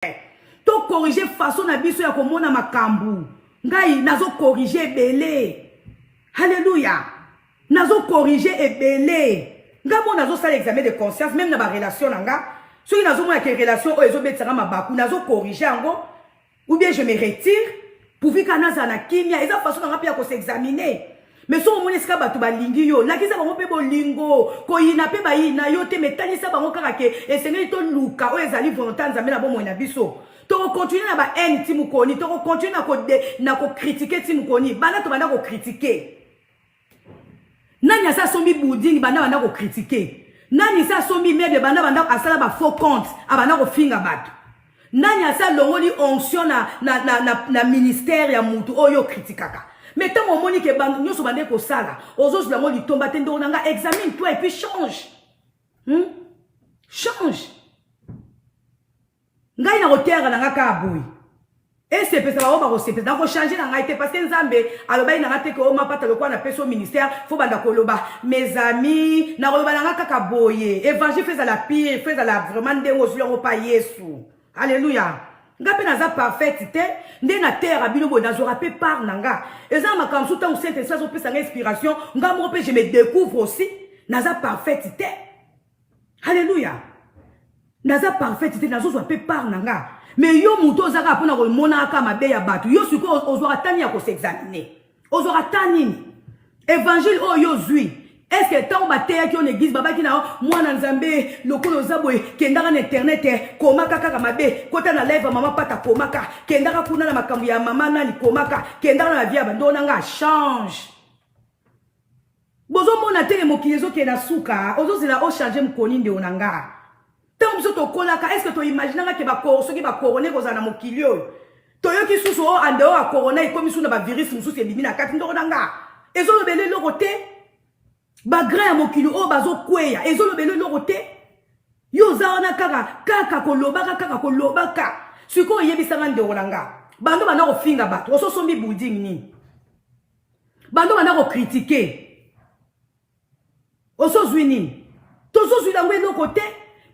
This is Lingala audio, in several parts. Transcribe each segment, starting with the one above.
to corriger façon na biso ya komona makambo ngai nazo corriger ebele halleluya nazo corriger ebele ngai mona nazosala examen de conscience meme na barelation na nga soki nazomona ke relation oyo ezobetisa nga mabaku nazo corriger yango ou bien je me retire pourvika nazala na kimia eza façon na nga mpe ya kosexamine me soki omoni esika bato balingi yo lakisa bango mpe bolingo koyina mpe bayina yo te metalisa bango kaka ke esengeli toluka oyo ezali volonté ya nzambe na bomoi na biso tokokontinue na bahaine ti mokoni tokokontinue na kokritike ti mokoni banda tobanda kokritike nani asi asombi buding banda banda kokritike nani asi asombi meuble banda banda asala bafaux compte abanda kofinga bato nani asi alongoli onction na, na, na, na, na ministère ya mutu oyo okritikaka me ntango omoni ke bantu nyonso bande kosala ozozwila yango litomba te ndoko na ngai examine toi epuis change hmm? change ngai nakoteyaka na ngai kaka boye esepesa bango bakosepesa nakochange na ngai te parce que nzambe alobaki na ngai te ke omapata lokola na peso ministère fo banda koloba mes amis nakoloba na ngai kaka boye évangile fo ezala pire fo ezala vraiment ndenge ozwi yango mpa yesu alleluya nga mpe naza parfaite te nde na terre bino boye nazwaka mpe part na nga eza na makambo su ntango saint esprit azopesa nga inspiration nga moko mpe je me découvre aussi naza parfaite te Alléluia. Naza parfaite te nazozwa pe part na nga. Mais yo moto oza kaka pona komona aka mabe ya bato. Yo sikoyo ozwaka tani ya ko s'examiner. Ozwaka tani nini? Évangile oyo yo zui. Est-ce que tant bateyaki on église babaki na yo mwana nzambe lokola oza boye kendaka na internet eh, komaka kaka mabe kota na live ya mama pata komaka kendaka kuna na makambo ya mama nani komaka kendaka na bavia bandoo na nga change Bozo mona te mokili ezo ke na suka, ozo zela o charger mkoni ndeo na nga. Tango biso tokolaka, est-ce que to imaginaka ke ba koro soki ba corona ekozala na mokili oyo? Toyoki susu o en dehors ya corona ekomi susu na ba virus mosusu ebimi na kati ndeko na nga. Ezo lobela eloko te. Ba grand ya mokili oyo bazo kweya, ezo lobela eloko te. Yo oza wana kaka kaka kolobaka kaka kolobaka. Sikoyo yebisa nga ndeko na nga. Bando banda kofinga bato, oso sombi building nini? bando banda ko kritike ozozwi nini tozozwila yango eloko te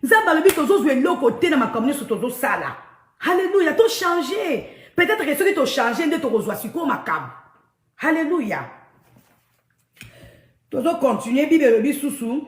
nzambe alobi tozozwa eloko te na makambo nyonso tozosala halleluya tochange peut-être ke soki tochange nde tokozwa sikoyo makambo halleluya tozokontinue bible elobi susu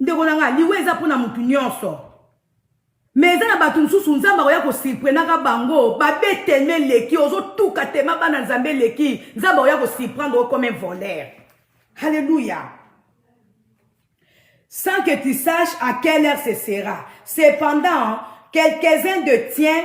ndeko na ngai liwa eza mpona motu nyonso me eza na bato mosusu nzambe akoya kosiprenaka bango babeteme eleki ozotuka tema bana nzambe eleki nzambe akoya kosiprendre okome voler halleluya sans que tu saches à quelle heure ce sera cependant quelques-uns de tiens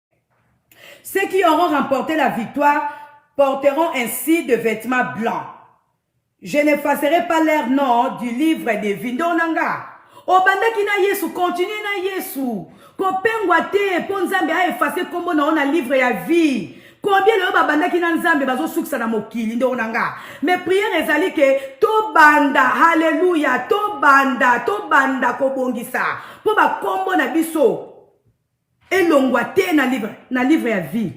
Ceux qui auront remporté la victoire porteront ainsi de vêtements blancs. Je n'effacerai pas leur nom du livre des vies. Donc, nanga, obandaki na Yesu, continue na Yesu. Kopengwa te, mpo Nzambe a effacer kombo na ona livre ya vie. combien lelo babandaki na nzambe bazosukisa na mokili ndeko na nga mais priere ezali ke tobanda haleluya tobanda tobanda kobongisa mpo bakombo na biso elongwa te na livre na livre ya vie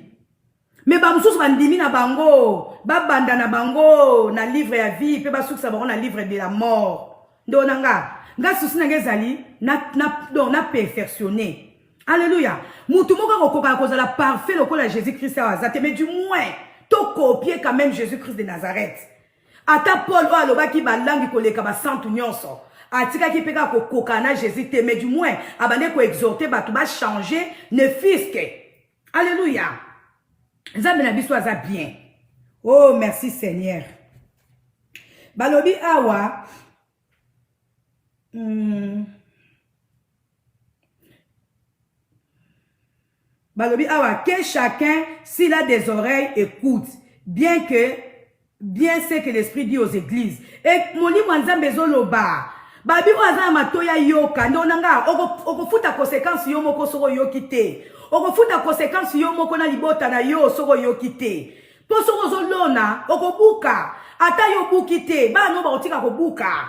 me bamosusu bandimi na bango babanda na bango na livre ya vie mpe basukisa bango na livre de la mort ndo na nga nga susi na nga ezali na, na, don na perfectionne alleluya motu moko akokokaka kozala parfait lokola jésus christ awa aza te mais du moins tokopie quand même jésus christ de nazareth Ata Paul oyo alobaki balambi koleka basantu nyonso atikaki mpe kaka kokokana na Jésus te, mais du moins abandaki koexhorte bato bachange ne fiske. Alleluia! Nzambe na biso aza bien. Oh, merci Seigneur. Balobi awa hmm. balobi awa que chacun s'il a des oreilles écoute bien que bien ce que l'esprit dit aux églises e molimo ya nzambe ezoloba babi oyo aza na matoya yoka ndoo na ngai okofuta conséquence yo moko soko oyoki te okofuta conséquence yo moko na libota na yo soko oyoki te mpo soko ozolona okobuka ata yo obuki te bana no bakotika kobuka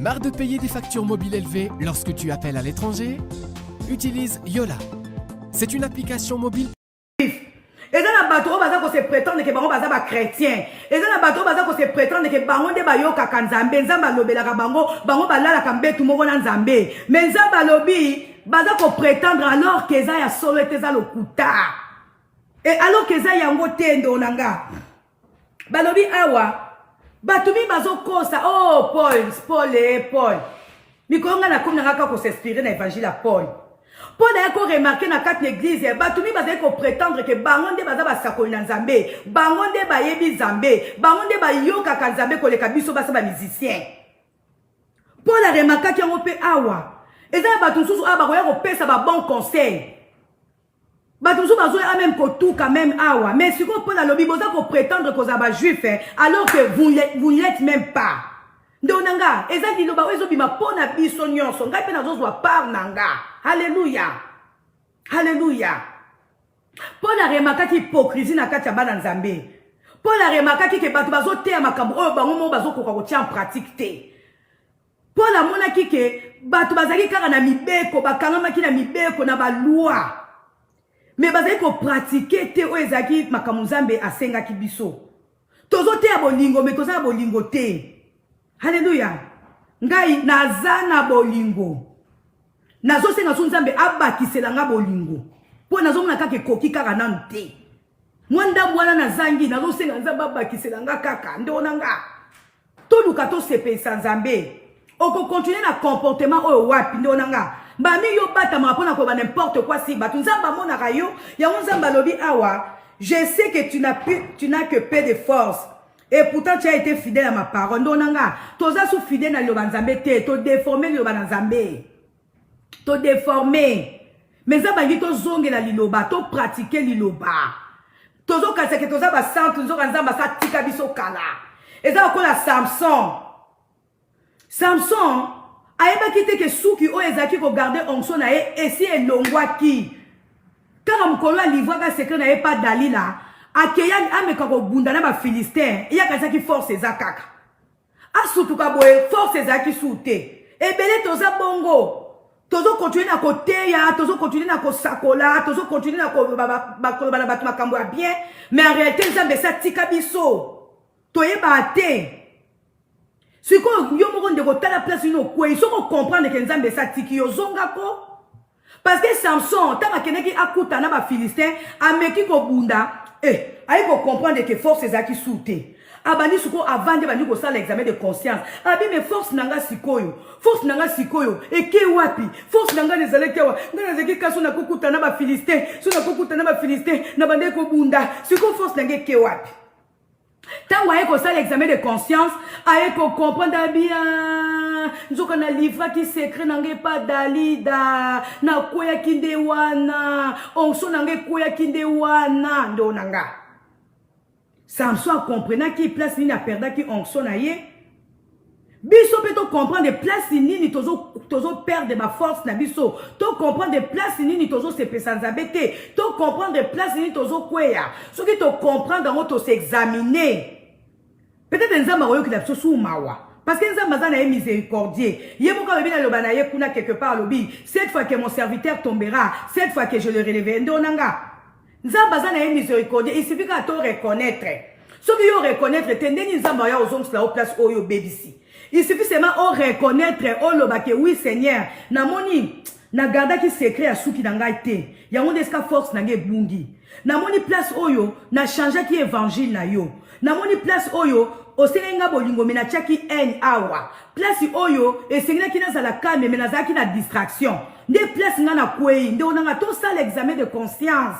Marre de payer des factures mobiles élevées lorsque tu appelles à l'étranger Utilise Yola. C'est une application mobile. eza na bato oyo baza kose prétendre ke bango baza bachrétien eza na bato oyo baza kose prétendre ke bango nde bayokaka nzambe nzambe alobelaka bango bango balalaka mbetu moko na nzambe me nzambe alobi baza koprétendre alors ke eza ya solo ete eza lokuta e alors ke eza yango te ndoo na nga balobi awa bato mingi bazokosa o oh, paul paul e eh, paul mikolo ngai nakomi nanga kaka kosinspire na évangile ya paul mpo naye koremarke na kati na eglize bato mingi bazali kopretendre ke bango nde baza basakoli na nzambe bango nde bayebi nzambe bango nde bayokaka nzambe koleka biso basa bamusicien mpo na remarkaki yango mpe awa eza na bato mosusu awa bakoya kopesa babon conseil bato mosusu bazoya meme kotuka meme awa mais sikoyo mpo nalobi boza kopretendre kozala bajuif alors que vous n'êtes même pas ndeko na nga eza liloba oyo ezobima mpo na biso nyonso ngai mpe nazozwa part na nga halleluya halleluya mpo na remakaki hypocrisie na kati ya bana nzambe mpo na remakaki ke bato bazoteya makambo oyo bango moko bazokoka kotya en pratique te Paul amonaki ke bato bazalaki kaka na mibeko, bakangamaki na mibeko, na balwa, me bazali kopratike te oyo ezalaki makambo Nzambe asengaki biso. Tozoteya bolingo, me toza na bolingo te. Haleluya! Ngai naza na bolingo, nazosenga so Nzambe abakisela nga bolingo, mpo nazomona kaka ekoki kaka nanu te. Mwa ndambo wana nazangi, nazosenga Nzambe abakisela nga kaka ndona nga Toluka tosepelisa Nzambe. Okokontinue na comportement oyo wapi ndeko na nga? Mami yo batama mpo na koloba n'importe quoi si bato Nzambe amonaka yo yango Nzambe alobi awa je sais que tu n'as tu n'as que peu de force et pourtant tu as été fidèle à ma parole ndeko na nga toza su fidèle na liloba Nzambe te to déformer liloba na Nzambe. To deformer. Mais eza bangi tozongela liloba, to pratiquer liloba. Tozokanisa ke toza basantu, nzoka Nzambe asa tika biso kala. Eza lokola Samson. Samson ayebaki te ke suki oyo ezalaki kogarde onction na ye esi elongwaki kaka mokolo alivraka sekre na ye pa dalila akeya ameka kobunda na bafilistin eyakanisaki force eza kaka asutuka boye force ezalaki su te ebele toza bongo tozokontinue na koteya tozokontinue na kosakola tozokontinue na koloba na bato makambo ya bien mais en réalité nzambe esi atika biso toyebaa te sikoyo yo moko ndeko tala place nini okwei soki okomprendre ke nzambe esi atiki yo zongako Parce que Samson, ntango akendeki akuta na bafilistin, ameki kobunda, eh, aye kocomprendre ke force ezalaki su te. abandi sikoyo avandi abandi kosala examen de conscience abi ah, me force na nga sikoyo force na nga sikoyo eke wapi force na nga nezalaki awa nga nazalaki kasi na kokuta na bafilistin so na kokuta na bafilistin na bandeki kobunda sikoyo force na nga eke wapi ntango aye kosala examen de conscience aye kocomprendre bien nzoka na livraki secret na ngai pa dalida nakweyaki nde wana onction na ngai ekweyaki nde wana ndo na nga samson akomprenaki place nini aperdaki onction na ye biso mpe tocomprendre place nini tozoperdre baforce na biso tocomprendre place nini tozosepesa nzambe te tocomprendre place nini tozokweya soki tocomprendre yango toseexamine peut-être nzambe akoyokela biso suu mawa parce que nzambe aza na ye miséricordier ye moko alobi na loba na ye kuna quelque part alobi cette fois que mon serviteur tombera cette fois que je le relève ndo na nga nzambe aza na ye miséricordie il suffit kaka to reconnaître soki yo reconnaître te ndenge nzambe aya ozongisela yo place oyo obebisi il suffit seulement o reconnaître oloba ke oui seigneur namoni nagardaki secret ya suki na ngai te yango nde esika force na ngai ebungi namoni place oyo na changeaki evangile na yo namoni place oyo osengaki nga bolingo me natiaki haine awa place oyo esengelaki nazala calme me nazalaki na distraction nde place nga nakwei nde onanga tosala examen de conscience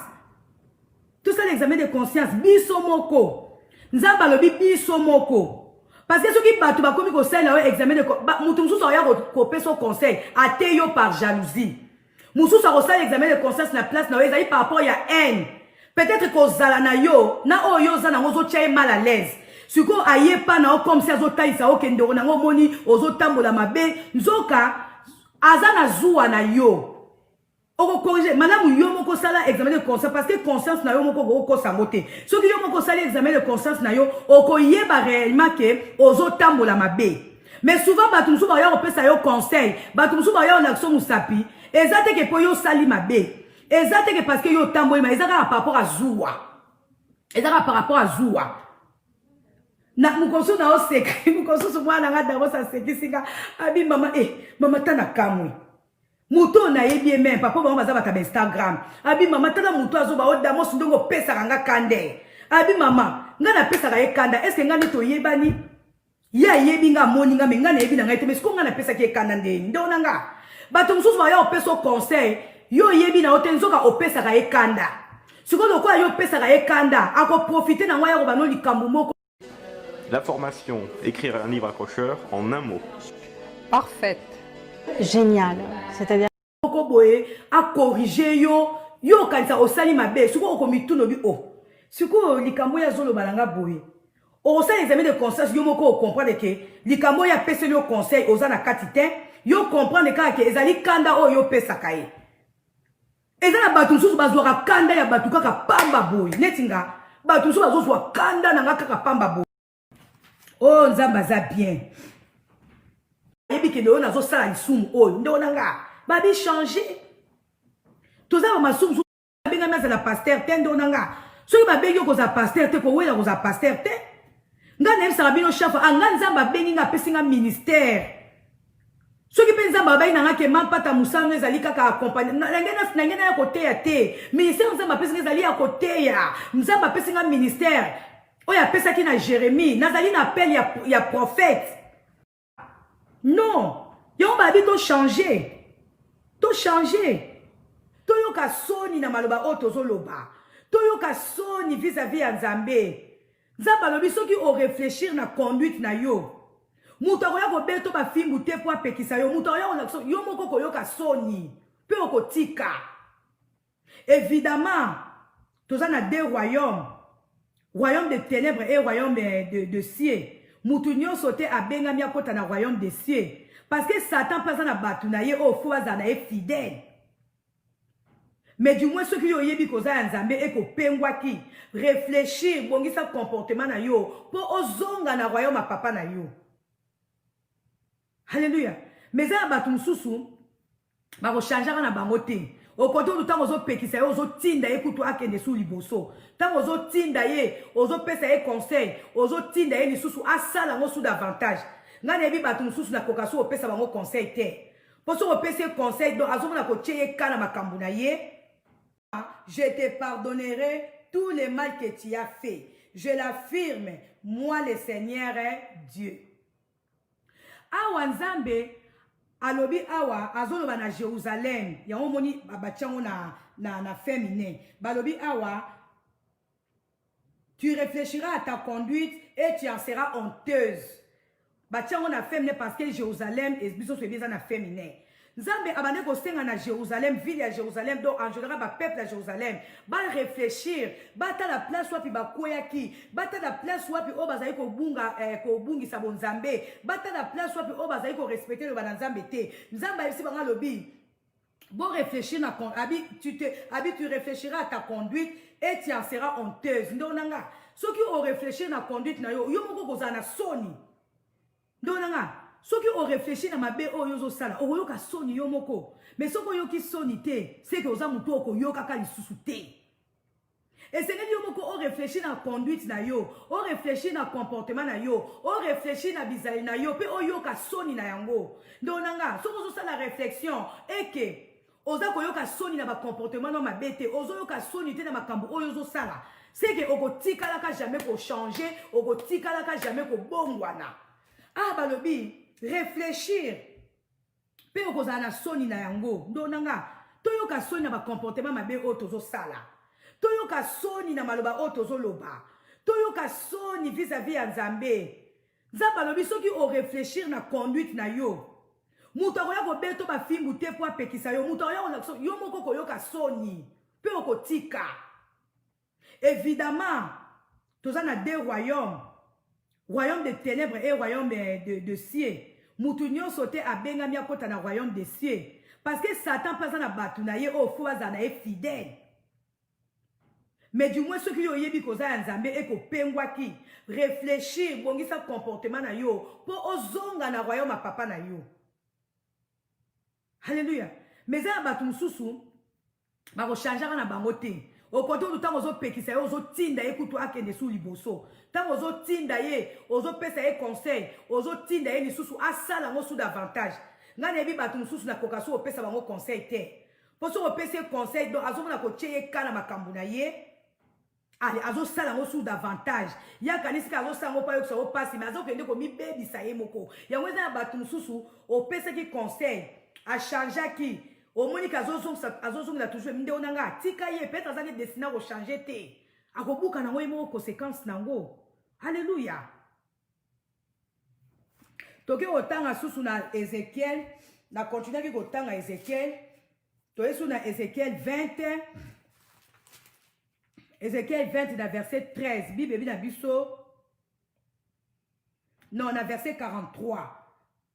tosala examen de conscience biso moko nzambe alobi biso moko parce que soki bato bakomi kosalela yo examen de moto mosusu akoya kopesa conseil ate yo par jalousie mosusu akosala examen de conscience na place na yo ezali par rapport ya haine peut-être kozala na yo na oyo yo oza nango ozotya ye mal à l'aise sikoyo aye epa na yo comme si azotalisa okendoko nango omoni ozotambola mabe nzoka aza na zuwa na yo okokorige malamu yo moko osala examen de conscience parce que conscience na yo moko okokosa yango te soki yo moko osali examen de conscience na yo okoyeba réellement ke ozotambola mabe mais souvent bato mosusu bakoya kopesa yo conseil bato mosusu bakoya kolakisa mosapi eza te ke mpo yo osali mabe eza te ke parce que yo otamboli ma eza kaka par rapport a zuwa eza kaka par rapport a zuwa na mokosusu na oseka mokosusu mwana nga dagos asekisi nga abi mama e eh, mama ta na kamwe moto oyo nayebi ye meme papa bango baza bata bainstagram abi mama tala moto azoba o damos ndenge opesaka nga kande abi mama nga napesaka ye kanda eske nga nde toyebani ye ayebi nga amoni nga me nga nayebi na ngai te me siko nga napesaki ekanda nde ndeo na nga bato mosusu baya opesa o conseil yo oyebi na yo te nzoka opesaka ye kanda sikoyo lokola yo opesaka ye kanda akoprofite na yango aya kobano likambo moko La formation, écrire un livre accrocheur en un mot. Parfaite. Génial. C'est-à-dire moko boye akorige yo yo okanisa osali mabe sikoyo okomituna obi o oh, sikoyo likambo oyo azoloba na nga boye okosala examen de conscience yo moko okomprendre ke likambo oyo apeseli yo conseil oza na kati te yo comprendre kaka ke ezali kanda oyo opesaka ye eza na bato mosusu bazwaka kanda ya bato kaka pamba boye neti nga bato mosusu bazozwa kanda na nga kaka pamba boye oyo oh, nzambe aza bien ayebi kende oyo nazosala lisumu oyo nde ona nga babi change toza na masumu susu abengami azala paster te nde ona nga soki babengi yo kozala paster te kowela kozala paster te ngai nayebisaka bino chafe anga ah, nzambe abengi nga apesi nga ministère soki mpe nzambe abai na nga ke mampata mosala no ezali kaka accompagne na ngai naya koteya te ministère nzambe apesi nga ezali ya koteya nzambe apesi nga ministère oyo apesaki na jérémie nazali na appel ya, ya prophète non yango babi tochange tochange toyoka soni na maloba oyo tozoloba toyoka soni vis-à-vis ya nzambe Nzambe alobi soki o reflechir na conduite na yo moto akoya kobeto bafimbu te mpo apekisa yo moto akoya kolakisa yo moko koyoka soni mpe okotika évidemment toza na deux royaume royaume de ténèbres et royaume eh, de, de cieux moto nyonso te abengami akota na royaume de cieux parce que satan mpe aza na bato na ye oyo fo bazala na ye fidèle mais du moins soki yo oyebi koza ya nzambe eko pengwa ki reflechir bongisa comportement na yo po ozonga na royaume ya papa na yo halleluya mais eza na bato mosusu bakochangeaka na bango te okoki kutu ntango ozopekisa ye ozotinda ye kutu akende su liboso ntango ozotinda ye ozopesa ye conseil ozotinda ye lisusu asala yango su davantage ngai nayebi bato mosusu nakoka su opesa bango conseil te mpo soki opesi ye conseil donc azomona kotie ye ka na makambo na ye ah, je te pardonnerai tout le mal que tu as fait je l'affirme moi le seigneur dieu awa nzambe alobi awa azoloba na jérusalem yango omoni batyango na, na, na feminin balobi awa Tu reflechiras à ta conduite et tu en seras honteuse. Batiango na féminin parce que Jérusalem et biso soyebi eza na féminin. Nzambe abandaki kosenga na Jérusalem, ville ya Jérusalem, donc en général ba peuple ya Jérusalem, ba réfléchir, batala place wapi bakweyaki, batala place wapi oyo bazali kobunga eh, kobungisa bonzambe, batala place wapi oyo bazali korespecte loba na Nzambe te. Nzambe ayebisi bango alobi Bon réfléchir na abi tu te abi tu réfléchiras à ta conduite et tu en seras honteuse ndo nanga soki o réfléchir na conduite na yo yo moko kozala na soni ndo nanga soki o réfléchir na mabe oyo ozo sala okoyoka soni yo moko mais soki oyoki soni te c'est que oza mutu okoyokaka lisusu te esengeli yo moko oreflechi na conduite na yo oreflechi na comportement na yo oreflechi na bizali na yo mpe oyoka soni na yango ndoo na nga soki ozosala reflexion eke oza koyoka soni na bacomportement no mabe te ozoyoka soni te na makambo oyo ozosala seke okotikalaka jamais kochange okotikalaka jamais kobongwana ah balobi réfléchir mpe okozala na soni na yango ndo na nga toyoka soni na bacomportement mabe oyo tozosala toyoka soni na maloba oyo tozoloba toyoka soni vis-à-vis ya nzambe nzambe alobi soki oreflechir na conduite na yo moto akoya kobeto bafimbu te mpo apekisa yo moto akoya kolakisa yo moko koyoka soni mpe okotika Evidemment, toza na deux royaumes. Royaume de ténèbres et royaume eh, de, de cieux. Mutu nyonso te abengami akota na royaume de cieux. Parce que Satan mpe aza na bato na ye oyo fo bazala na ye fidèle. Mais du moins soki yo oyebi koza ya Nzambe et kopengwaki, réfléchir, bongisa comportement na yo mpo ozonga na royaume ya papa na yo. Haleluya. Mais eza na bato mosusu bakochangeaka na bango te okoki kutu ntango ozopekisa ye ozotinda ye kutu akende su liboso ntango ozotinda ye ozopesa ye conseil ozotinda ye lisusu asala yango su davantage ngai nayebi bato mosusu nakoka su kopesa bango conseil te mpo soki opesi ye conseil donc azomona kotie ye ka na makambo na ye Allez, azosala yango sous davantage ye akanisi ke azosala yango mpo ayokisa yo mpasi me azokende komibebisa ye moko yango eza na bato mosusu opesaki conseil achangeaki omoni ke azozongela toujours mindeo na ngai atika ye peut-être aza nde destine akochange te akobuka nango ye moko conséquence na yango alleluya toke kotanga susu na ezekiel na continuaki kotanga ezekiel toye susu na ezekiel 20 ezekiel 20 na verset 13 bible ebi na biso non na verset 43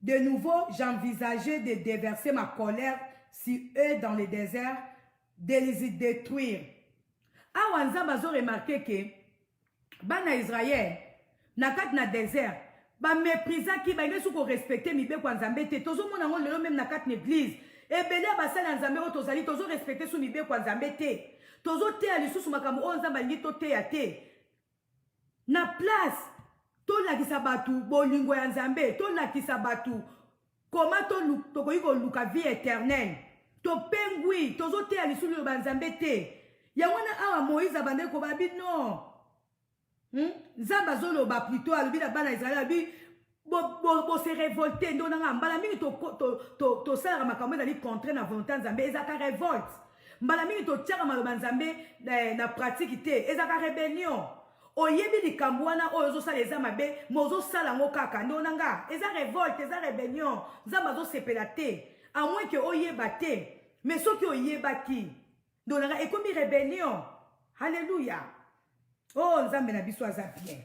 De nouveau j'envisageais de deverser ma colère sur eux dans le desert, de les y detruire. Awa Nzambe azo remarquer que bana Israël na kati na desert bameprisaki balingi soki korespecte mibeko ya nzambe te tozomona yango lelo meme na kati na eglize ebele ya basali ya nzambe oyo tozali tozorespecte so mibeko ya nzambe te tozoteya lisusu makambo oyo nzambe alingi toteya te Na place tolakisa bato bolingo ya Nzambe, tolakisa bato koma tokoki koluka vie eternel, topengwi, tozoteya lisusu liloba Nzambe te. Yango wana awa Moïse abandaki kobabi non. Hmm? Nzambe azoloba plutot alobi na bana Israël alobi bose revolte ndo nanga mbala mingi tosalaka makambo ezali contraire na volonté ya nzambe ezalaka revolte mbala mingi totyaka maloba nzambe eh, na pratike te ezalaka rebellion oyebi likambo wana oyo ozosala eza mabe ma ozosala yango kaka ndo nanga eza revolte eza rebellion nzambe azosepela te amwin ke oyeba te me soki oyebaki ndo nanga ekomi rebellion halleluya o oh, nzambe na biso aza bien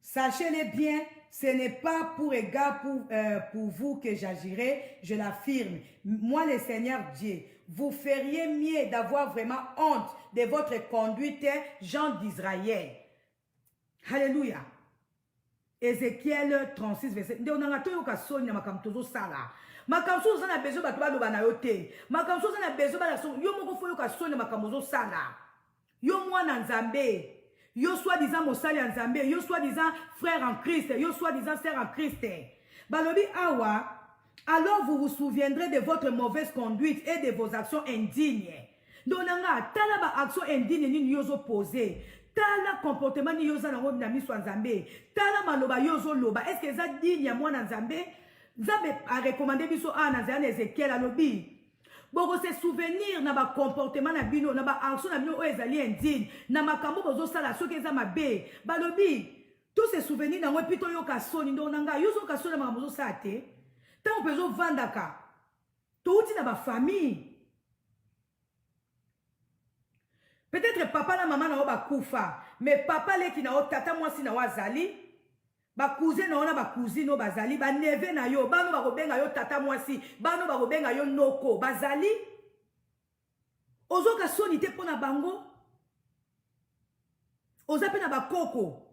Sachez le bien, ce n'est pas pour égard pour, euh, pour vous que j'agirai, je l'affirme. Moi, le Seigneur Dieu, vous feriez mieux d'avoir vraiment honte de votre conduite, gens d'Israël. Alléluia. Ézéchiel 36, verset. Nde onanga toyoka soni na makambo tozosala. Makambo soki oza na besoin bato baloba na yo te. Makambo soki oza na besoin balakisa yo moko fo oyoka soni na makambo ozosala. yo mwana nzambe yo soit disant mosali ya nzambe yo soit disant frère en christ yo soit disant sœur en christ balobi awa alors vous vous souviendrez de votre mauvaise conduite et de vos actions indignes donc na nga tala baaction indigne nini yo ozopose tala comportement nini yo oza nango na miso ya nzambe tala maloba yo ozoloba estce eza digne ya mwana nzambe nzambe arekomande biso awa na nzela na ezekiel alobi boko se souvenir na bacomportement na bino na baaction na bino oyo ezali indigne na makambo bozosala soki eza mabe balobi to se souvenir na yango epi toyoka soni ndoko na ngai yo ozoyoka soni na makambo ozosala te ntango mpenza ovandaka touti na bafamille peut-être papa na mama na yo bakufa mais papa leki na yo tata mwasi na yo azali ba cousin na yo na ba cousine oyo bazali ba neve na yo bano bakobenga yo tata mwasi bano bakobenga yo noko bazali ozoka soni te mpo na bango oza mpe na bakoko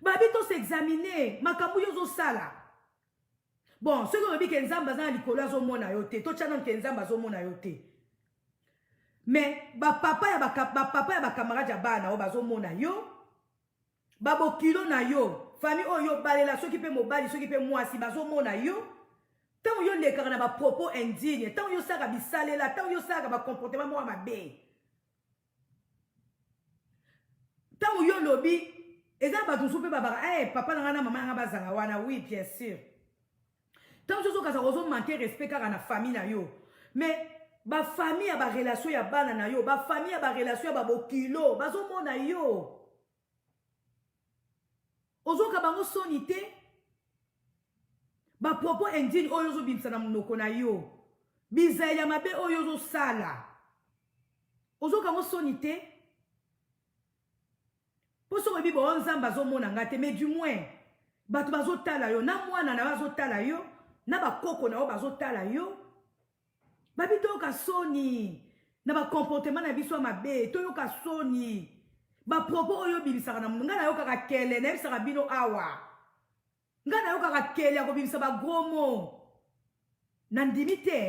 babi tosexamine makambo yo ozosala bon soki olobi ke nzambe aza na likolo azomona yo te totyana nke nzambe azomona yo te me bapapa ya bakamarade ya bana oyo bazomona yo babokilo na yo fami oyo obalela soki mpe mobali soki mpe mwasi bazomona yo ntango yo olekaka na bapropos indigne ntango yo osalaka bisalela ntango yo osalaka bacomportement moko mabe ntango yo olobi eza bato mosusu mpe babaka e eh, papa na ngai na mama na ngai bazala wana oui bien sûr Tant que okaza ozo manquer respect kaka na famille na yo. Mais ba famille ya ba relation ya bana na yo, ba famille ya ba relation ya ba bokilo, bazo mona yo. Ozoka bango soni te. Ba propos indigne oyo ozo bimisa na munoko na yo. Bizaye ya mabe oyo ozo sala. Ozoka ngo soni te. mpo soki oyebi bao nzambe azomona ngai te mais du moins bato bazotala yo na mwana na yo azotala yo na bakoko na yo bazotala yo babi toyoka soni na bacomportement na biso ya mabe toyoka soni bapropos oyo obimisaka na moto ngai nayokaka kele nayebisaka bino awa nga nayokaka kele ya kobimisa bagromo nandimi te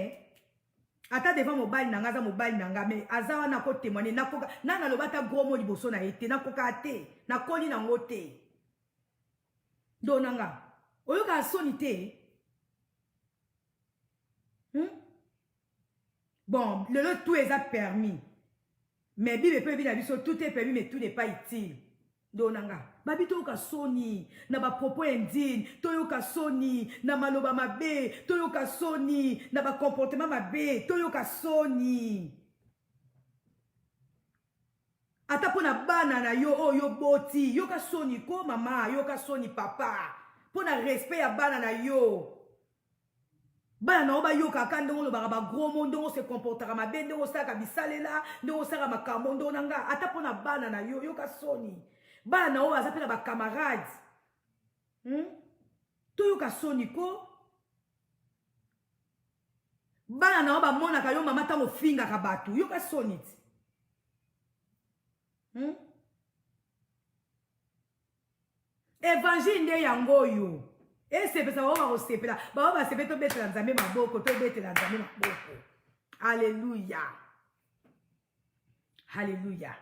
ata devant mobali na nga aza mobali na nga mais aza wana akotemwane nakoka na naloba ata gromo liboso na ye te nakokaa te nakoli nango te ndo na nga oyokaka soni te hmm? Bon, lelo tout eza permis. Mais Bible peut dire biso tout est permis mais tout n'est pas utile. Donc nanga, babi toyoka soni na ba propos indigne, toyoka soni na maloba mabe, toyoka soni na ba comportement mabe, toyoka soni. ata mpo na bana na yo oyo yo boti yoka soni ko mama yoka soni papa mpo na respect ya bana na yo bana na yo bayokaka ndenge olobaka bagromo ndenge ose comportaka mabe ndenge osalaka bisalela ndenge osalaka makambo ndenge na nga ata mpo na bana na yo yoka soni bana na oyo aza mpe na bacamarade hmm? toyoka soni ko bana na yo bamonaka yo mama ntango ofingaka bato yoka soni ti hmm? evangile nde yango oyo esepesa bango bakosepela bango basepeli tobetela nzambe maboko tobetela nzambe maboko aleluya haleluya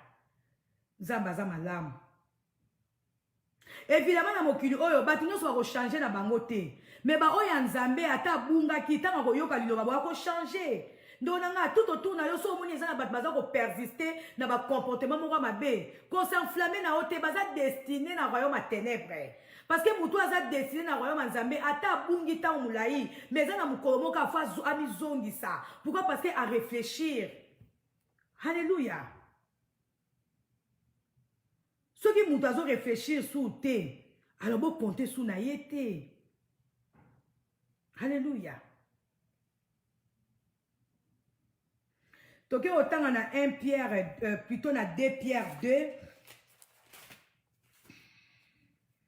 nzambe aza malamu evidemment na mokili oyo bato nyonso bakochange na bango te me baoyo ya nzambe ata abungaki ntango akoyoka liloba bo akochange ndeko na ngai tout autour na yo so omoni eza na bato baza kopersiste na bacomportement moko ya mabe kosenflamme na yo te baza destine na royaume ya ténèbre parce que motu aza destine na royaume ya nzambe ata abungi ntango molai mais eza na mokolo moko afo amizongisa pourquoi parce que areflechir halleluya soki moto azo réfléchir sur te alors bo compte sur na ye te alleluya toke kotanga na 1 pierre euh, plutôt na 2 pierre 2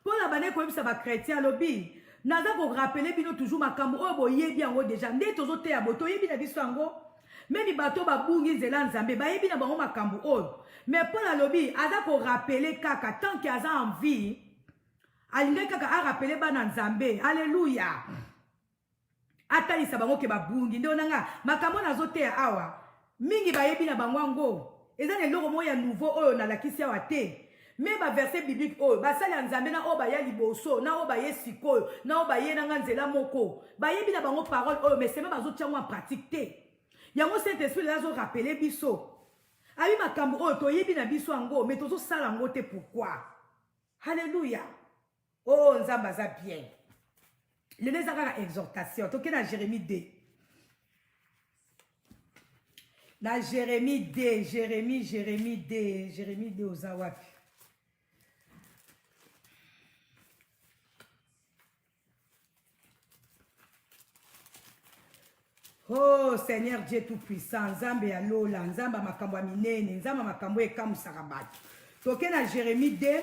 mpo na bande koyebisa bachrétien alobi naza korapele bino toujours makambo oyo boyebi yango deja nde tozoteya bo toyebi na biso yango memi bato babungi nzela nzambe bayebi na bango makambo oyo me paul alobi aza korapele kaka tanke aza en vie alingaki kaka arapele bana nzambe aleluya atalisa bango ke babundi nde ona nga makambo nazoteya awa mingi bayebi na bango yango eza na eloko moko ya nouveau oyo nalakisi awa te me baverse biblike oyo basali ya nzambe na oyo baya liboso na oyo baye sikoyo na oyo baye na nga nzela moko bayebi na bango parole oyo meseme bazotya yango en pratique te yango saint esprit lela azorapele biso abi makambo oyo toyebi na biso yango me tozosala yango te pourkui halleluya oh nzambe aza bien lelo eza kaka exhortation toke na jérémie 2 na jérémie 2 jérémie jérémie 2 jérémie 2 oza wapi oh seigneur dieu tout puissant nzambe ya lola nzambe ya makambo ya minene nzambe ya makambo ekamusaka bato toke na jérémie 2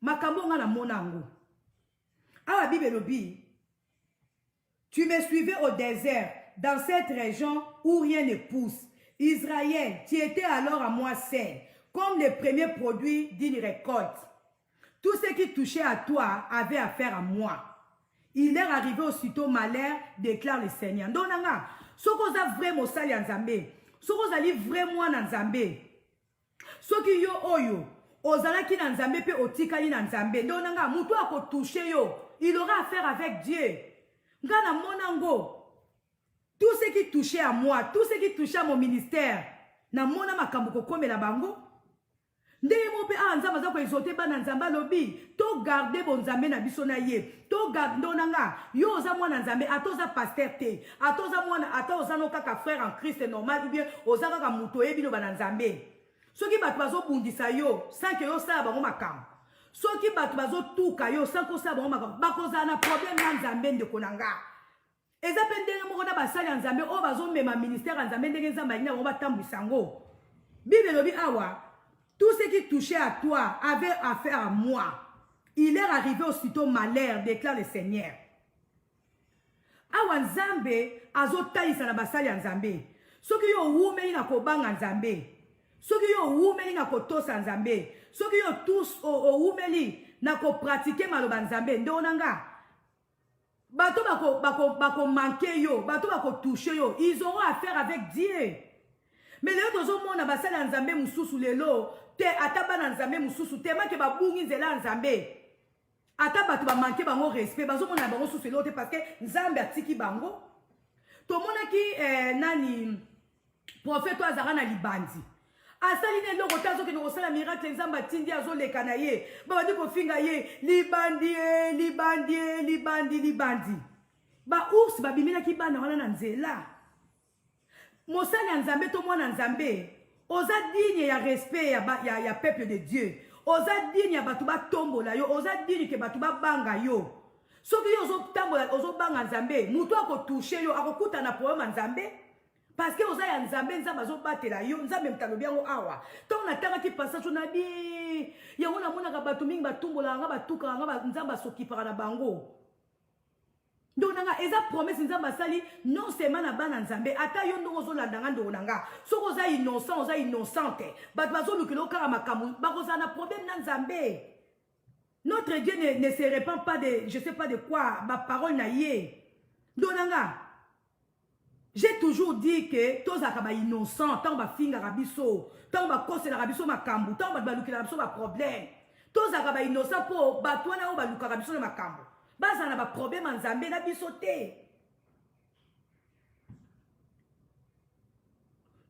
makambo nga namona yango awa bible elobi tu me suivais au désert dans cette région où rien ne pousse israël tu étais alors à moi seul comme le premier produit d'une récolte tout ce qui touchait à toi avait affaire à moi il est arrivé aussitôt malheur déclare le seigneur ndo na nga soki oza vrai mosali ya nzambe soki ozali vrai mwana nzambe soki yo oyo ozalaki na nzambe mpe otikali na nzambe ndeko na ngai moto akotouche yo il aura affaire avec dieu ngai namona ngo tout ce qui touche à moi tout ce qui touche à mon ministère namona makambo kokomela bango ndenge moko mpe awa nzambe aza koexote bana nzambe alobi togarde bonzambe na biso na ye to gardo na nga yo oza mwana nzambe ata oza paster te ata oza mwana ata oza no kaka frère en christ normal ubien oza kaka moto oyebi loba na nzambe soki bato bazobundisa yo sanke yo osala bango makambo soki bato bazotuka yo sanke osala bango makambo bakozala na problème na nzambe ndeko na nga eza mpe ndenge moko na basali ya nzambe oyo bazomema ministère ya nzambe ndenge nzambe alingi na bango batambwisa yango bible elobi awa tout ce qui touchait à toi avait affaire à moi il est arrivé aussitôt malheur déclare le seigneur awa nzambe azotalisa na basali ya nzambe soki yo owumeli na kobanga nzambe soki yo owumeli na kotosa nzambe soki yo tous owumeli na kopratike maloba nzambe ndeko na nga bato bakomanke bako, bako yo bato bakotouche yo ils auront affaire avec dieu mais lelo tozomona basali ya nzambe mosusu lelo te ata bana nzambe mosusu te make babungi nzela ya nzambe ata bato bamanke bango respect bazomona na bango susu eloko te parce que nzambe atiki bango tomonaki eh, nani profete oyo azalaka na libandi asali na eloko te azokende kosala miracle nzambe atindi azoleka na ye babandi kofinga ye libandi e libandi e libandi libandi baours babimelaki bana wana na nzela mosali ya nzambe to mwana nzambe oza digne ya respect ya, ba, ya, ya peuple de dieu oza digne ya bato batombola yo oza digne ke bato babanga yo soki yo ozotambola ozobanga nzambe moto akotushe yo akokutana na problème ya nzambe parce que oza ya nzambe nzambe azobatela yo nzambe moto alobi yango awa ntango natangaki passage na bie yango namonaka bato mingi batumbolaka nga batukaka nga nzambe asokipaka na bango ndeko na nga eza promese nzambe asali non seulement na bana nzambe ata yo ndenge ozolanda nga ndeko na nga soki oza innocent oza innocente bato bazolukela okaka makambo bakozala na problème na nzambe notre dieu ne, ne se répand pas de je sais pas de quoi baparole na ye ndeko na nga J'ai toujours dit que tozalaka ba innocent ntango bafingaka biso ntango bakoselaka biso makambo ntango bato balukelaka biso baproblème tozalaka ba innocent mpo bato wana oyo balukaka biso na makambo bazala na baproblème ya nzambe na biso te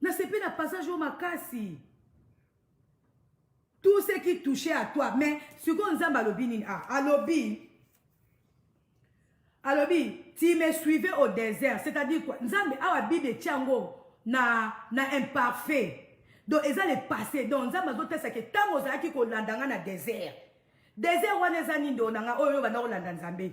nasepe na passage oyo makasi tout ce qui touche à toi mais sikoyo nzambe alobi nini ah, alobi alobi ti me suive au désert c'est-à-dire quoi nzambe awa bible etia yango na, na imparfait donc eza le passé donc nzambe azotesa ke ntango ozalaki kolanda nga na désert désert wana eza nini ndoo na nga oyo oyo banda kolanda nzambe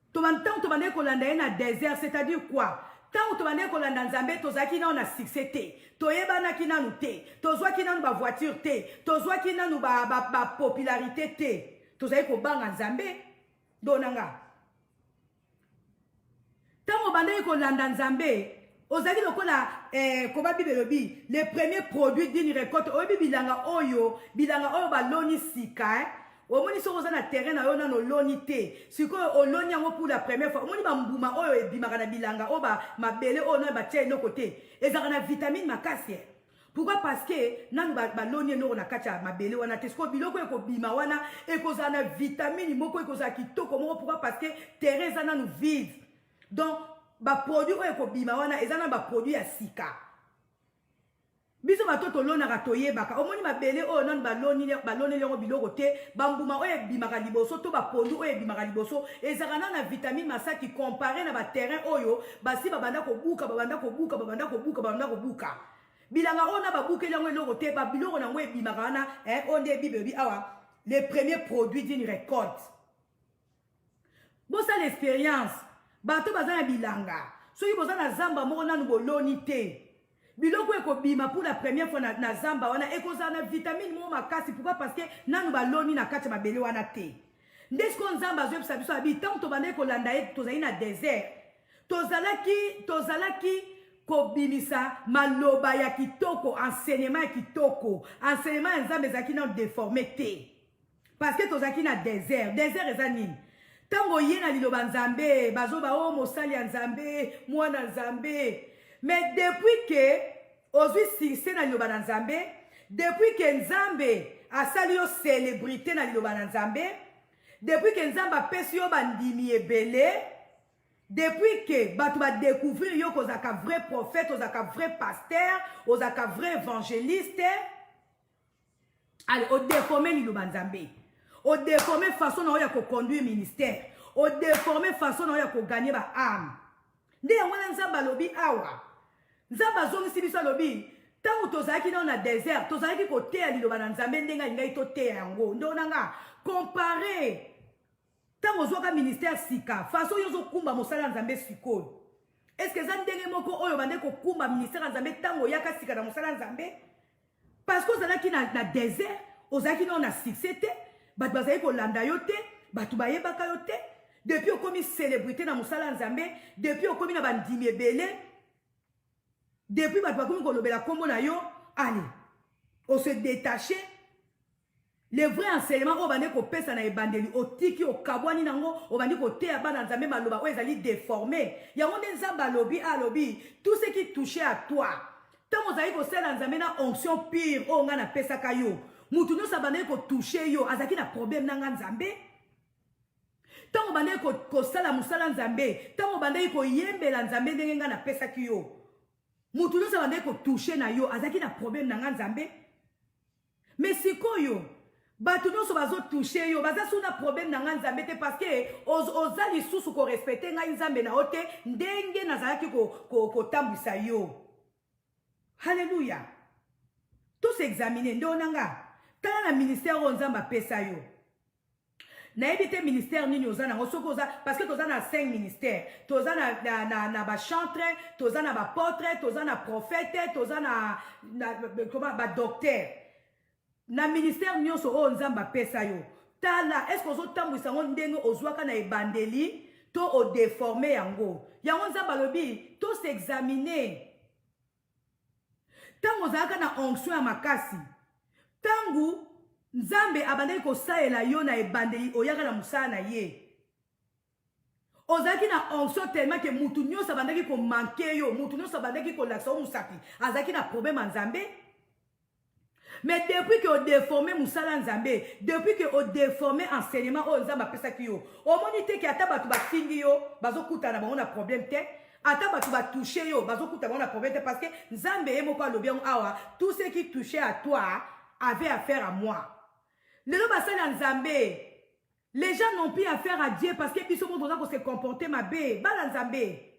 Ntango tobandaki kolanda ye na desert, c'est-à-dire quoi? ntango tobandaki kolanda nzambe tozalaki nano na succès te toyebanaki nano te tozwaki nano bavoiture te tozwaki nano bapopularité ba, ba te tozali kobanga nzambe dona nga ntango obandaki kolanda nzambe ozali lokola eh, koba bible elobi le premier produit d'une récolte oyebi bilanga oyo bilanga oyo baloni sika eh? omoni soki oza na terrain na yo nano oloni te sikoyo oloni yango pour la première fois omoni bambuma oyo ebimaka na bilanga oyo mabele oyo nayo batya eloko te ezalaka na vitamine makasi eh? pourquoi parce que nanu baloni eloko na kati ya mabele wana te sikoyo biloko ekobima wana ekozala na vitamine moko ekozala kitoko moko pourquoi parce que terrain eza nanu vide donc baproduit oyo ekobima wana eza na baproduit ya sika biso bato tolonaka toyebaka omoni mabele oyo nanu baloneli yango biloko te bambuma oyo ebimaka liboso to bapondu oyo ebimaka liboso ezalaka nano na vitamine masaki compare na baterrain oyo basi babanda kobuka babanda kobuka babanda kobuka babanda kobuka bilanga oyo na babukeli yango eloko te babiloko na yango ebimaka wana eh, oyo nde bible ebi awa le premier produit d'une récolte bosala experience bato baza na bilanga soki boza na zamba moko nanu boloni te biloko ekobima pour la première fois na, na zamba wana ekozala na vitamine moko makasi pourquoi parce que nanu baloni na kati ya mabele wana te nde sikoyo nzambe azoyebisa biso abi ntango tobandaki kolanda ye tozali na desert tozalaki tozalaki kobimisa maloba ya kitoko enseignement ya kitoko enseignement ya nzambe ezalaki nano deforme te Parce que tozalaki na desert. Desert eza nini? Tango ye na liloba Nzambe, bazoba o oh, mosali ya Nzambe, mwana Nzambe. Mais depuis que ozwi succès na liloba na Nzambe, depuis que Nzambe asali yo célébrité na liloba na Nzambe, depuis que Nzambe apesi yo bandimi ebele, depuis que bato ba découvrir yo kozaka vrai prophète, ozaka vrai pasteur, ozaka vrai évangéliste, ale odeforme liloba nzambe odeforme façon na oyo ya koconduire ministère odeforme façon na oyo ya koganye baarme nde yango wana nzambe alobi awa nzambe azongisi biso alobi ntango tozalaki nao na desert tozalaki koteya liloba na nzambe ndenge alingaki toteya yango ndonanga compare Tango ozwaka ministère sika, façon yo ozo kumba mosala ya Nzambe sikoyo. Est-ce que eza ndenge moko oyo bande ko kumba ministère ya Nzambe tango oyaka sika na mosala ya Nzambe? Parce que ozalaki na, na désert, ozalaki nao na succès te, bato bazali kolanda yo te, bato bayebaka yo te, depuis okomi célébrité na mosala ya Nzambe, depuis okomi na bandimi ebele, depuis bato bakomi kolobela nkombo na yo, allez, ose detache, Le vrai enseignement oyo obandi kopesa na ebandeli otiki okabwani nango obandi koteya bana nzambe maloba oyo ezali deforme yango nde nzambe alobi alobi tout ce qui touche à toi ntango ozali kosala nzambe na onction pire oyo ngai napesaka yo moto nyonso abandaki kotouche yo azalaki na problème na ngai nzambe ntango obandaki kosala mosala nzambe ntango obandaki koyembela nzambe ndenge ngai napesaki yo moto nyonso abandaki kotouche na yo azalaki na problème na ngai nzambe me sikoyo bato nyonso bazotouche yo baza su na problème na ngai nzambe te parce que oza lisusu korespecte ngai nzambe na yo te ndenge nazalaki kotambwisa ko, ko yo halleluya tose examine ndeo na nga tala na ministère oyo nzambe apesa yo nayebi te ministère nini oza nango soki oza parce que toza na 5 ministère toza na, na, na, na bachantre toza na bapotre toza na prophète toza na, na koma badocteur na ministère nyonso oyo nzambe apesa yo tala eske ozotambwisa yango ndenge ozwaka na ebandeli to odeforme yango yango nzambe alobi tosexamine ntango ozalaka na onction ya makasi ntango nzambe abandaki kosalela yo na ebandeli oyaka na mosala na ye ozalaki na onction tellement ke mutu nyonso abandaki komanke yo mutu nyonso abandaki kolakisa yo mosapi azalaki na problème ya nzambe mais depuis que odeforme mosala ya nzambe depuis que odeforme enseignement oyo nzambe apesaki yo omoni te ke ata bato bafingi yo bazokutana na bango na problème te ata bato batouche yo bazokutana bango na problème te parce que nzambe ye moko alobi yango awa tout ce qui touche à toi avait affaire à moi lelo basali ya nzambe les gens n'ont plus affaire à dieu parce que biso moko toza kose comporte mabe bana nzambe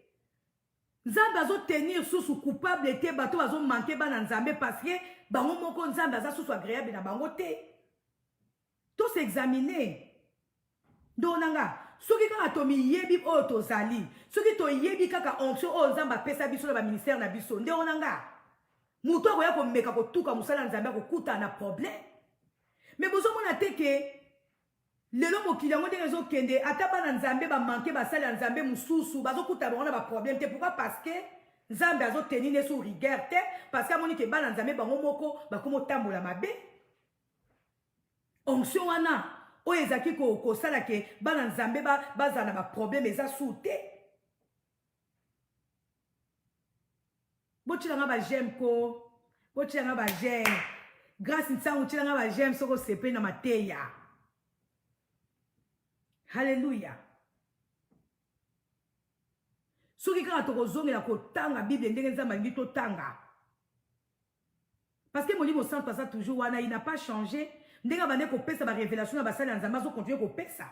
Nzambe azo tenir susu coupable te bato bazo manque bana nzambe parceque bango moko nzambe aza susu agreable na bango te to s'examiner ndoo na nga soki kaka tomiyebi oyo tozali soki toyebi kaka onction oyo nzambe apesa biso na baministère na biso ndeko na nga moto akoya komeka kotuka mosala ya nzambe akokutana na problème me bozomona te ke Lelo mokili yango ndenge ezo kende ata bana nzambe ba manque ba sali ya nzambe mususu bazo kuta bango na ba problème te pourquoi parce que nzambe azo tenir ne sous rigueur te parce que amoni ke bana nzambe bango moko bakomo tambola mabe onction wana oyo ezaki ko kosala ke bana nzambe ba bazala na ba problème eza sous te botyela nga ba j'aime ko botyela nga ba j'aime grace nsango tyela nga ba j'aime soki osepe na mateya halleluya soki kaka tokozongela kotanga bible ndenge nzambe alingi totanga Parce que Molimo Santo aza toujours wana, il n'a pas changé. Ndenge abande kopesa ba révélation na basali ya Nzambe azo continuer kopesa.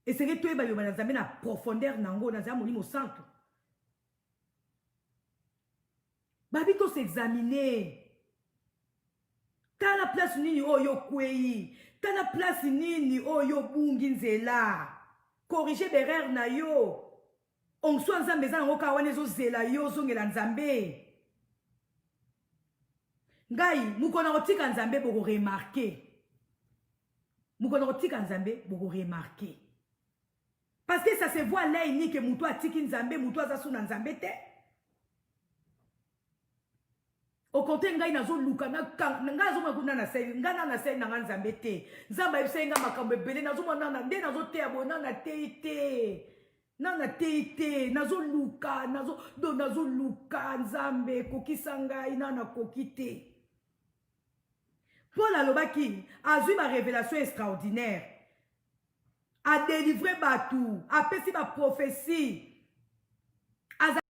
Esenge toyeba liloba na Nzambe na profondeur na yango, na Nzambe Molimo Santo. Babi to s'examiner. Tala place nini oyo okwei. Tala place nini oyo obungi nzela. Corriger berreur na yo. Onction ya Nzambe eza nango kaka wana ezo zela yo ozongela Nzambe. Ngai mokolo na kotika Nzambe boko remarquer. Mokolo na kotika Nzambe boko remarquer. Parce que ça se voit l'œil ni que mutu atiki Nzambe, mutu aza sous na Nzambe te. au contraire ngai nazoluka ngai azomona kuna na seli ngai na na seli na ngai nzambe te nzambe ayebisaki ngai makambo ebele nazomona nana nde nazoteya boye nana teyi te nana teyi te nazoluka nazo do nazoluka nzambe kokisa ngai nana koki te paul alobaki azwi barevelation extraordinaire adelivre bato apesi baprofesi